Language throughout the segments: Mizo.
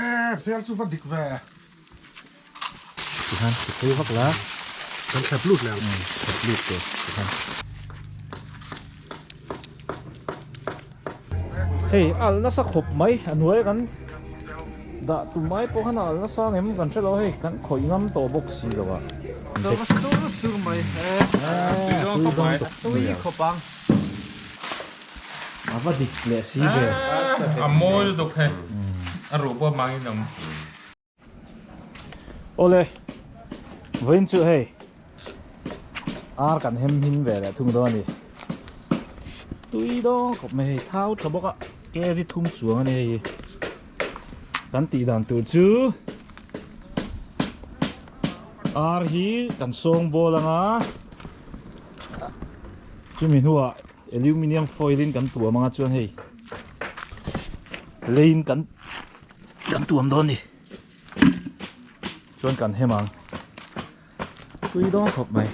e phel chu va dik ve ti khan ti phei vak la kan khap lut le ang khap lut te ti khan hei alna sa khop mai anuai kan da tu mai po khan alna sa ngem kan hrelo hei kan khoi ngam to bok si lo a so so sur mai e tui dong khop ang A va dik leh si ve. A mawi lutuk khe a ruh pawh mang in awm. Awle, vawiin chu hei ar kan hem hming ve leh thung dawn a ni. Tui dawng khawp mai hei, thau tha bawk a kg thum chuang a ni hei hi. Kan tih dan tur chu ar hi kan sawng bawl anga chumi hnuah. Aluminium foil in kan tuam anga chuan hei leiin kan kan tuam dawn ni chuan kan hem ang tui dawn khawp mai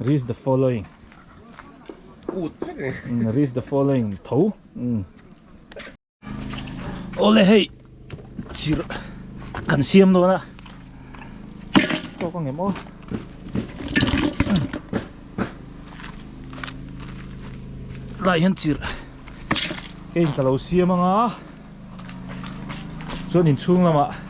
reads the following reads the following tho ole hei chir kan siam dawn a tawk ang em aw lai hian chir cái in ka lo siam anga chuan in chhung lamah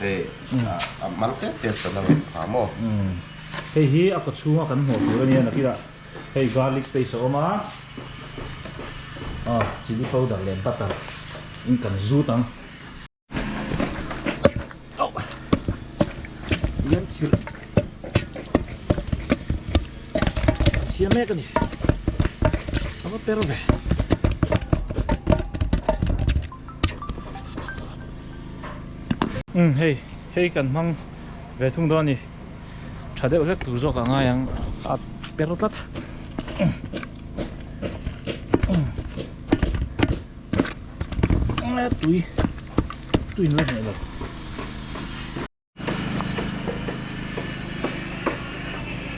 Hei a hmang tep tep chuan a ngaih kha maw? Hei hi a kaw chhunga kan hmuh tur a nia na kila. Hei garlic paste a awm a, ah chilli powder leh butter in kan zut ang. Auh! Tui an chhirh a chhia mek a ni. A va per ve. Umm hei, hei kan hmang ve thung dawn a ni. Tha deuh hlek tur zawk a ngai ang a per tlat. Tui, tui in la hneh lo.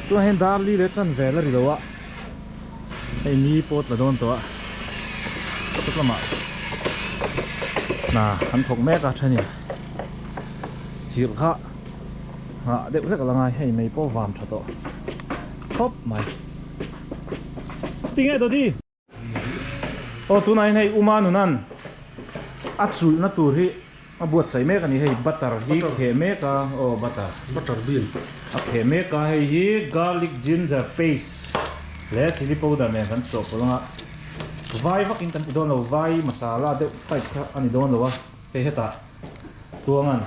Tunah hian Darli leh Chanvel a ri lo a, hei mi pawt la dawn tawh a, kawt lamah hna an thawk mek a thania, chirh kha nghah deuh hlek la ngai, hei mei pawh vam tha tawh khawp mai. Ti nge Dodi? Aw tunain hei uma nuna'n a chulhna tur hi a buatsaih mek a ni. Hei butter hi kheh mek a, aw butter, butter bean, a kheh mek a, hei hi garlic ginger paste leh chilli powder nen kan chawh pawlh ang a, vai vakin kan ti dawn lo, vai masala deuh type kha a ni dawn lo a, hei hetah tuangan.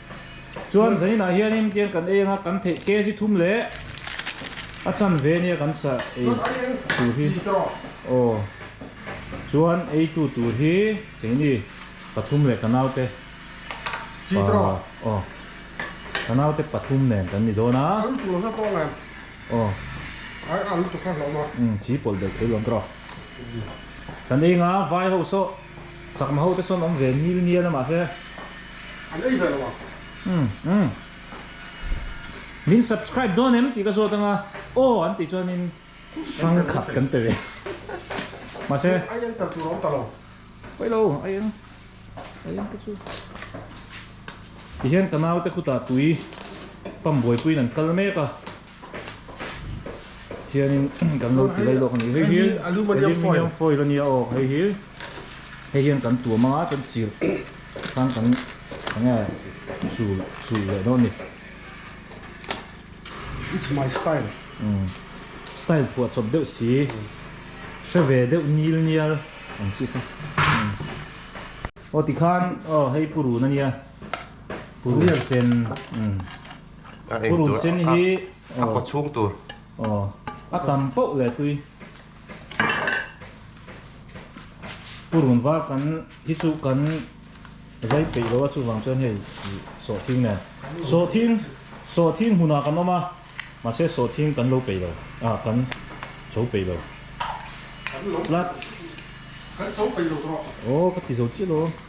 Chuan Zainah hianin kian kan ei anga kan theih kg thum leh a chanve nia kan chah ei tur hi aw chuan eitu tur hi keini pathum leh ka naute pa aw ka naute pathum nen kan ni dawn a aw chi pawlh belh theilo an trawk kan ei anga vai ho sawh. Chakma ho te sawn awm ve nil nil a mahse. An ei ve lo ang. Umm umm. Min subscribe dawn em tih ka zawt ang a. Aw an tih chuan in hrang khat kan pe ve. Mahse. Chu ai eng tel tur a awm ta lo. Paih lo ai eng ai eng te chu. Tihian ka naute khutah tui pump buai puiin an kal mek a. Hianin kan lo ti daih lawk a ni. Hei hi aluminium foil a ni a, aw hei hi hei hian kan tuam a chuan chirh khan kan eng nge chul chul leh dawn a ni. It's my style. Umm style phuah chawp deuh si, hre ve deuh nil nial ang chi kha. Aw tikhan aw hei purun a nia, purun sen umm. a eng tur a kaw chhung tur aw a tam pauh leh tui purun var kan hi chu kan zai peih lo a chuvang chuan hei sawh thing nen sawh thing sawh thing hunah kan awm a mahse sawh thing kan lo peih lo a kan chho peih lo kan lo kan chho peih lo tawh aw ka ti zo chiah lo.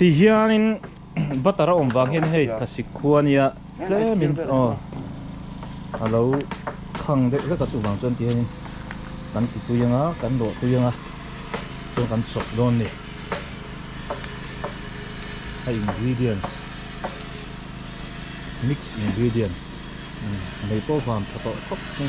Tihianin butter a awm vang hian hei thlasik khua nia tlemin aw a lo khang deuh hlek a chuvang chuan tihianin kan ti pui anga kan rawh pui anga chuan kan chawp dawn ni a ingredients mix ingredients nei pawh vang tha tawh khawp mai.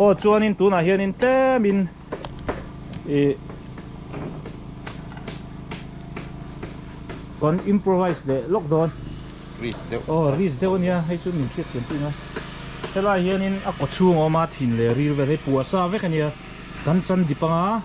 aw chuanin tunah hianin tlemin ih kan improvise leh lawk dawn risk deuh aw risk deuh a nia hei chu min hriat chian chin a helai hianin a kaw chhung a awm a thin leh ril vel hi puahsa vek a nia kan chandip anga.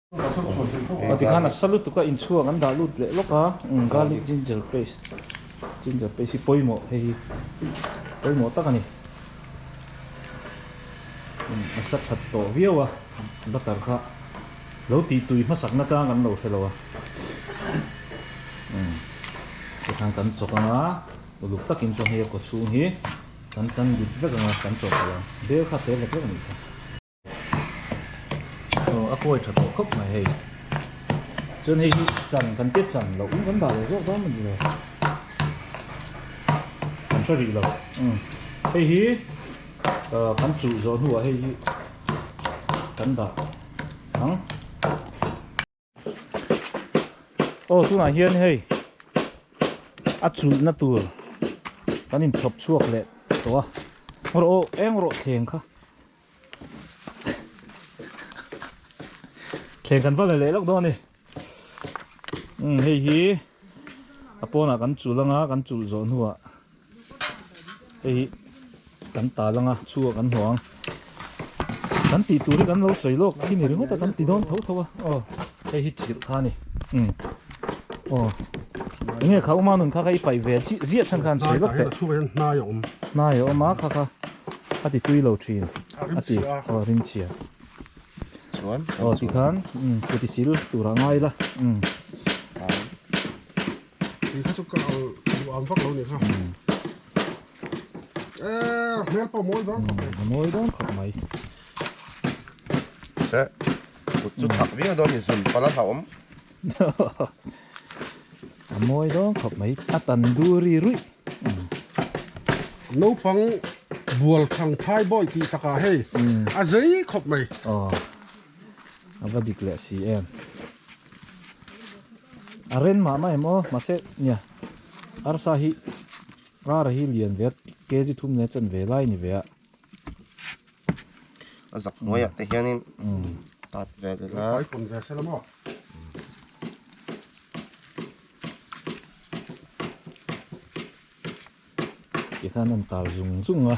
Aw tikhan a sa lutuk a inchhuak an dah lut leh lawk a garlic ginger paste ginger paste hi pawimawh hei hi pawimawh tak a ni a sa that tawh viau a butter kha lo tih tui hmasak na chang kan lo hre lo a tikhan kan chawk anga uluk takin chuan hei a kawchhung hi kan chang dik vek anga kan chawk theih ang bel kha fel hek hek a nih kha. Aw a kuai tha tawh khawp mai hei. Chuan hei hi chan kan tia chan loh kan dah leh zawk zawk ani lo. Kan hre rih lo. Hei hi kan chuh zawh hnuah hei hi kan dah ang. Aw tunah hian hei a chulhna tur kan in chhawp chhuak leh tawh a rawh eng rawh thleng kha thleng kan val leh lawk dawn ni hei hi a pawnah kan chulh anga kan chulh zawh hnuah hei hi kan ta lang a chhunga kan hmuh ang kan tih tur hi kan lo sawi lawk khi ni ringawt a kan ti dawn tho tho a aw hei hi chirh kha a ni um aw enge kha awma nun kha kha i paih ve chiah ziah chhan khan sawi lawk teh hnai a awm hnai a awm a kha kha a ti tui lo thin a ti aw rim chhia chuan aw ti khan um kutisil turah ngai la um Chi kha chu ka ang duham vak lo ni kha. E hmel pawh mawi dawn khawp mai. Mawi dawn khawp mai. Hre. Kut chu thak viau dawn ni zun pala hlauhawm. A mawi dawn khawp mai. A tan du ri ruih. Naupang bual thang thai bawi tih takah hei a zei khawp mai. Aw. A va dik leh si em. A ren mah mah em aw, mahse nia, arsa hi rara hi lian ve a, kg thum nena chen ve lai ni ve a. A zak hnuaiah te hianin tat ve leh la. Vai pun ve se la maw? Tikhan a intal zung zung a.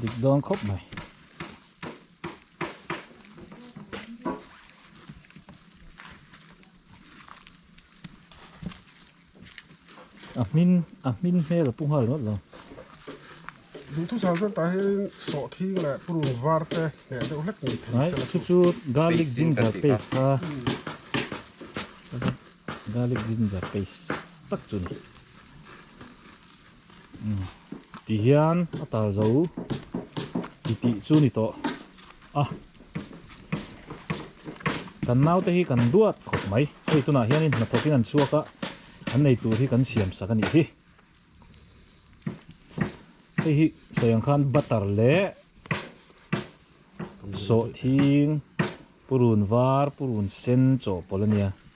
dik dawn khawp mai. A hmin, a hmin hmel a pu nghal rawt lo. Duh thu chhang chuan tah hian sawh thing leh purun var te hneh deuh hlek ni thei se la. Chu chu garlic ginger paste kha. Garlic ginger paste tak chu ni. Ti hian a tar zo ti tih chu ni tawh a. Kan naute hi kan duat khawp mai. Hei tunah hianin hnathawkin an chhuak a, an nei tur hi kan siam sak a nih hi. Hei hi sawi ang khan butter leh sawhthing, purun var, purun sen chawhpawlh a nia.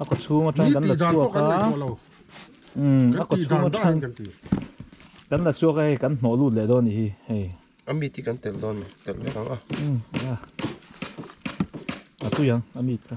a kawchhung atang kan la chhuak a umm a kawchhung atang kan la chhuak a hei kan hnawh lut leh dawn ni hi hei a mit hi kan telh dawn ni telh vek ang a umm a a tui ang a mit kha.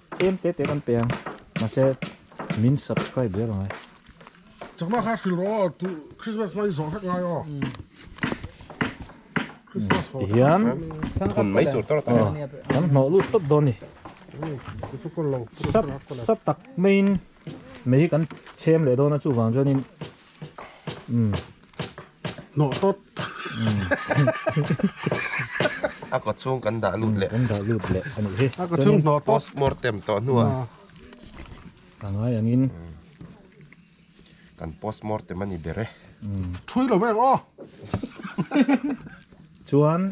Eng te te kan pe ang mahse min subscribe zel ang ai. Chakma kha hrilh rawh aw, tu Christmas mah i zawh vek ngai aw. Christmas haw hian thun mai tur tawrh ta nia. Kan hnawh lut tawt dawn ni. Sat sat tak maiin mei hi kan chhem leh dawn a chuvang chuanin umm. Hnawh tawt. A kawt chhung kan dah lut leh. Kan dah lut leh anih hi. A kawt chhung hnawh tawt. Post mortem tawh hnu a. A ngai ang in. Kan post mortem a ni ber e. Thui lo vek aw. Chuan.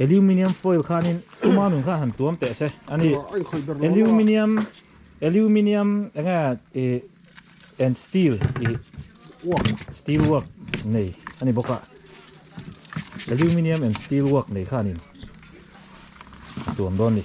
Aluminium foil khanin tuma nun khan han tuam teh se ani aluminium aluminium enga e and steel e work steel work nei ani boka aluminium and steel work nei khanin tuam don ni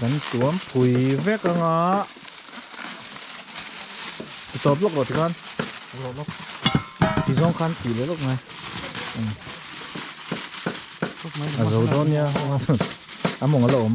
kan tuam pui vek ang a tawp lawk lo ti khan lo lawk ti zawng khan ti leh lawk mai a zo dawn nia a mawng a la awm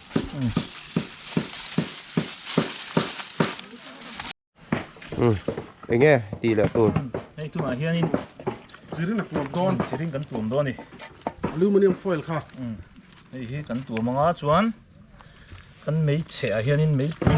Eng nge tih leh tur? Hei tunah hianin chi ring a tuam dawn. Chi ring kan tuam dawn a ni. Aluminium foil kha. Hei hi kan tuam anga chuan kan meichhehah hianin meipui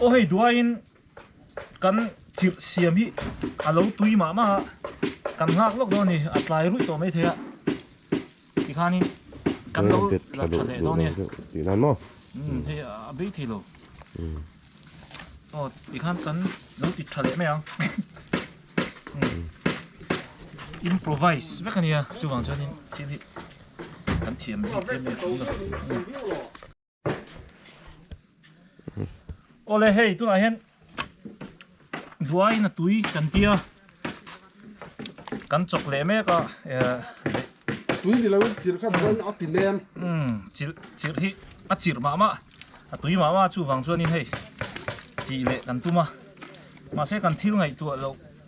Aw hei duaiin kan chirh siam hi a lo tui mah mah a, kan nghak lawk dawn a ni, a tlai ruih tawh mai thei a, tikhanin kan lo la tha leh dawn a nia, tih nan maw? Umm hei a bei thei lo, aw tikhan kan lo ti tha leh mai ang, improvise vek a nia chuvang chuan thil hi kan thiam bik em em a ni. Awle hei tunah hian duaina tui kan tia kan chawk leh mek a tui ni loin chirh kha duaina a ti lem chirh chirh hi a chirh mah mah a tui mah mah chuvang chuan in hei tih leh kan tum a mahse kan thil ngaihtuah loh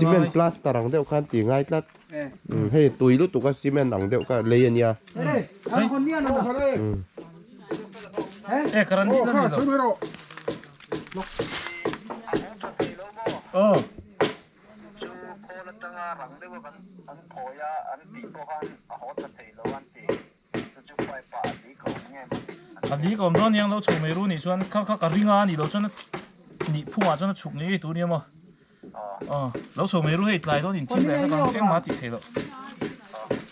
Cement plaster ang deuh khan ti ngai tlat hei tui lutuk a cement ang deuh khan lei ania A dil ka awm dawn nia, an lo chho mai ru a nih chuan kha kha ka ring a, a nih loh chuan nih phung ah chuan a chhuk ngei tur nia maw? Aw, lo chho mai ru hei, tlai dawn in thim leh hlek ang engmah a tih theih loh.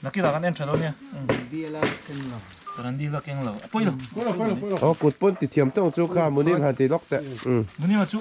Naki lah kan en tha dawn nia. Kan rawn dil a keng lo. Aw kut pawn ti thiam tawng chu kha Munir han ti lawk teh. Munir chu.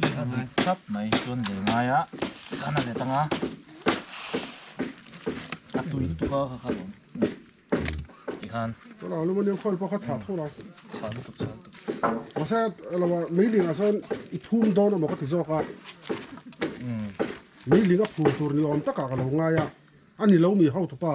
Hei a rik tap mai chuan lei ngaia kan a let ang a, a tui lutuk a ka khan awm ti khan. Ka la aluminium foil pawh kha chhak tho lo. Chhak lutuk chhak lutuk. Mahse a lo a mei ling ah chuan i phum dawn amaw ka ti zawk a. Mei ling a phum tur ni awm takah ka lo ngai a, a ni lo mi ho tu pa.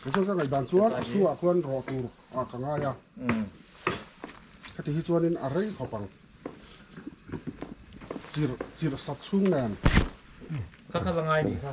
Khaw zawk a ngaih dan chuan a chhungah khuan rawh tur ah ka ngai a, hetihi chuanin a rei khawp ang, chir chir sat chhung nen. Kha kha va ngai nih kha.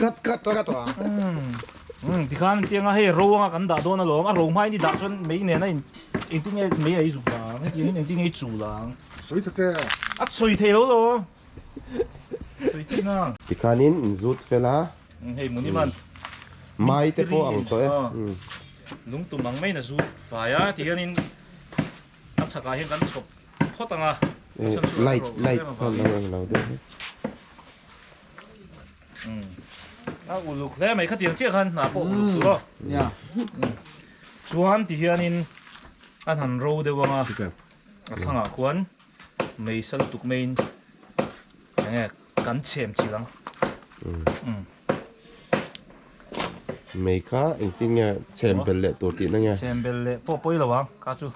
Cut cut cut. Umm tikhan an tih anga hei ro anga kan dah dawn alawm a ro hma ini dah chuan mei nena in engtin nge mei a izuk ang hetiang in engtin nge i chul ang. Sawi ta che. A sawi thei lo lo. Sawi chin a. Tikhanin in zut fel a. Umm hei muni man. Mai te pawh ang tawh e. Lungtum ang maiin a zut fai a tihianin a chhak ah hian kan chhawp phawt ang a. Light light khan alo en lo daih e. A uluk hle mai khatiang chiah khan hna pawh uluk chu aw nia chuan ti hianin a han ro deuh ang a a thlangah khuan meisa lutuk maiin eng nge kan chhem chilh ang mei kha engtin nge chhem bel leh tur tihna nge chhem bel leh pawh pawi lo ang kha chu.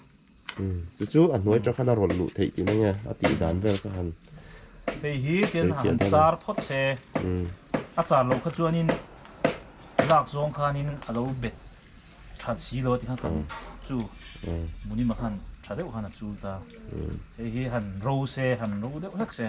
Chu chu a hnuai ṭang khan a rawlh luh theih tih mai nge a tih dan vel kha han Hei hi tian han zar phawt se a char loh kha chuanin lak zawng khanin a lo bet ṭhat si lo a ti khan kan chu Munima khan ṭha deuh khan a chul ta. Hei hi han ro se han ro deuh hlek se.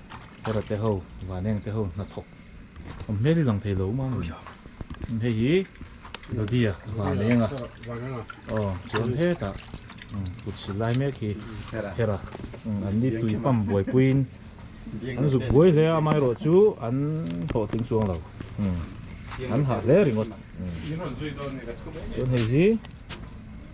Hora te ho, vaneng te ho hnathawk awm hmel hi lang thei lo mai a ni. Hei hi Dadia vanenga aw chuan hetah kut sil lai mek hi Hera an ni tui pump buaipuiin an zuk buai hle a amaherawh chu an hlawh tling chuang lo an hah hle ringawt chuan hei hi.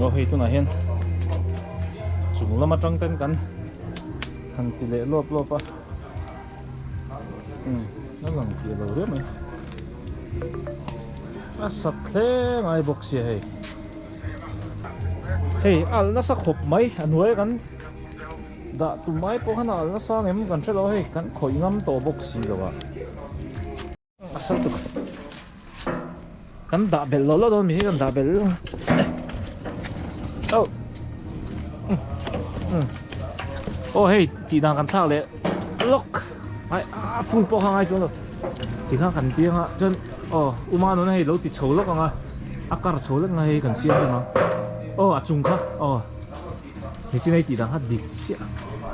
Aw hei tunah hian chung lam atang ten kan han ti leh lawp lawp a. Umm a lang fih lo riau mai. A sak thleng ai bawk sia hei. Hei a al nasa khawp mai a hnuaia kan dah tum ai pawh khan a al nasa ang em kan hre lo a hei kan khawih ngam tawh bawk si lo a. Kan dah bel lo lo dawn mi hi kan dah bel. Oh. Oh hey, ti dan kan thak le. Lock. Ai a full po kha ngai chu lo. Ti kha kan ti anga chon oh uma no na hei lo ti chho lok anga. A kar chho lek ngai hei kan siam anga. Oh a chung kha. Oh. Ni chin hei tih dan kha dik chiah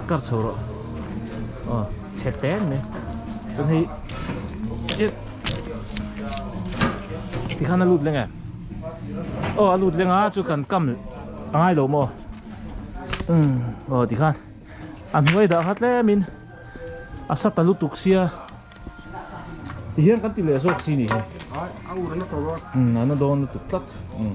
a kar chho rawh aw chhe peng mai chuan hei eh tikhan a lut leng e aw a lut leng a chu kan kam a ngai lo maw um aw tikhan a hnuai dah kha tlem in a sa ta lutuk sia ti hian kan ti leh zawk si ni hi a ur na tawh a a na dawn lutuk tlat um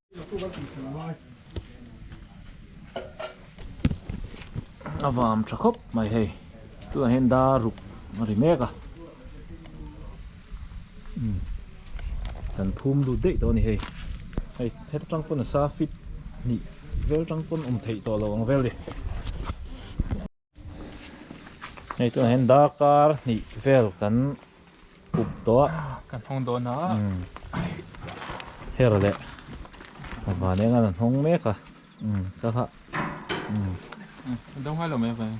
a vam tha khawp mai hei tunah hian dar ruk a ri mek a umm kan phum lut daih tawh a ni hei hei heta tang pawh nasa fit hnih vel tang pawh awm theih tawh lo ang vel a ni. Hei chuan hian darkar hnih vel kan up tawh a. Kan hawng dawn a. Umm. Her leh a van enga an hawng mek a. Umm ka hlah. Umm. A do nghal lo mai a van hi.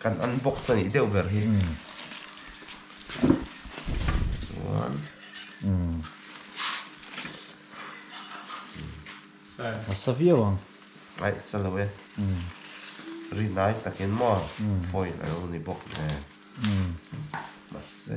Kan unbox a nih deuh ber hi. Chuan. A sa viau ang. Ai sa lo e. Ri nai takin maw foil a lo ni bawk e. Mahse.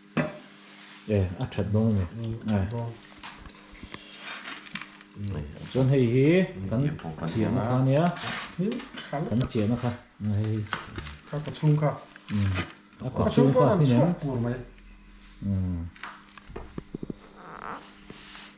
Eh a that bawk a ni. Chuan hei hi kan chiahna kha nia. Kan chiahna kha. Ka ka chhung kha. A ka chhung pawh an chhuak pur mai.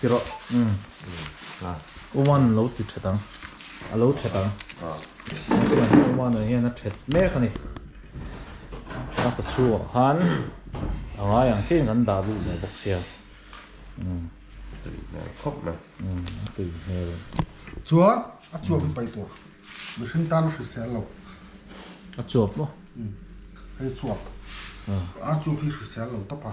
Tihrawh Oman lo ti ṭhet ang, a lo ṭhet ang. Oman ah hian a ṭhet mek a ni. Ka pa chu ah khan a ngai ang chin kan dah duh leh bawk sia. Chuan a chuap hi pai tur mihring tan a hrisel lo. A chuap maw? Hei chuap. A chuap hi hrisel lo tawp a.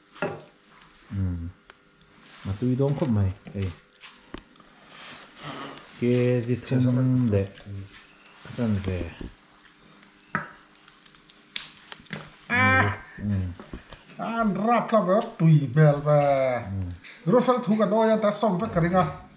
Umm a tui dawn khawp mai hei kg thum leh a chanve an rap hlauh ve vak tui hmel ve Rufael thu kan awia ta sawm vek ka ring a.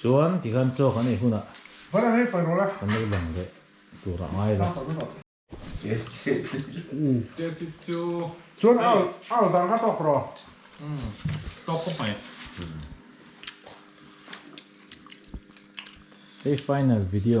Chuan tikhan chaw kan ei hunah kan lo lang leh tur a ngai lo. Hei final video.